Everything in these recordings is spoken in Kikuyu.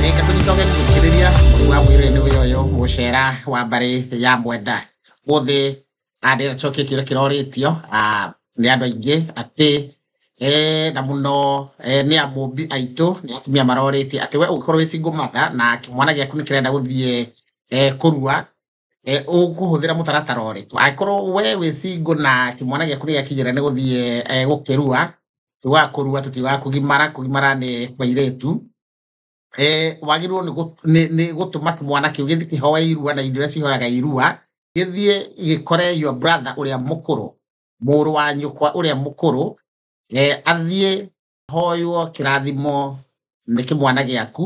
reke tũnyicoke gũthikĩrĩria mũrũ wa mwĩrĩ nĩ wĩra ũyũ gũcera wa mbarĩ ya mwenda gũthĩ andĩra coki kĩrĩa kĩrorĩtio ah, nĩ andũ aingĩ atĩ eh, na mũno eh, nĩ amũmbi aitũ nĩ atumia marorĩtie atĩ we ũngĩkorwo wĩ single mother na kĩmwana gĩaku nĩ kĩrenda gũthiĩ eh, kũrua eh, ũkũhũthĩra mũtaratara ũrĩkũ angĩkorwo we wĩ singo na kĩmwana gĩaku nĩ gĩakinyĩra nĩ gũthiĩ eh, gũkĩrua tiugaga kũrua tũtiugaga kũgimara kũgimara nĩ kwairetu eh, wagĩrĩirwo nĩ gũ- nĩ- nĩ gũtũma kĩmwana kĩu gĩthiĩ kĩhoe irua na indo iria cihoyaga irua gĩthiĩ gĩkore your brother ũrĩa mũkũrũ mũrũ wa nyũkwa ũrĩa mũkũrũ eh, athiĩ hoywo kĩrathimo nĩ kĩmwana gĩaku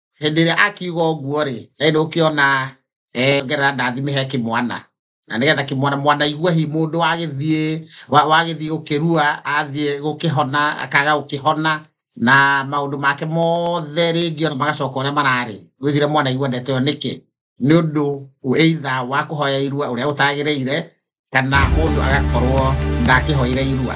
hĩndĩ ĩrĩa akiuga ũguo rĩ rĩrĩ ũkĩona eh, ngerera ndathime he kĩmwana na nĩgetha kĩmwana mwana igua hi mũndũ wagĩthiĩ wa- wagĩthiĩ gũkĩrua athiĩ gũkĩhona akaga gũkĩhona na maũndũ make mothe rĩngĩ ona magacoka ũrĩa mararĩ gwĩcire mwana igua ndeto ĩyo nĩkĩ nĩ ũndũ eitha wa kũhoya irua ũrĩa ũtagĩrĩire kana mũndũ agakorwo ndakĩhoire irua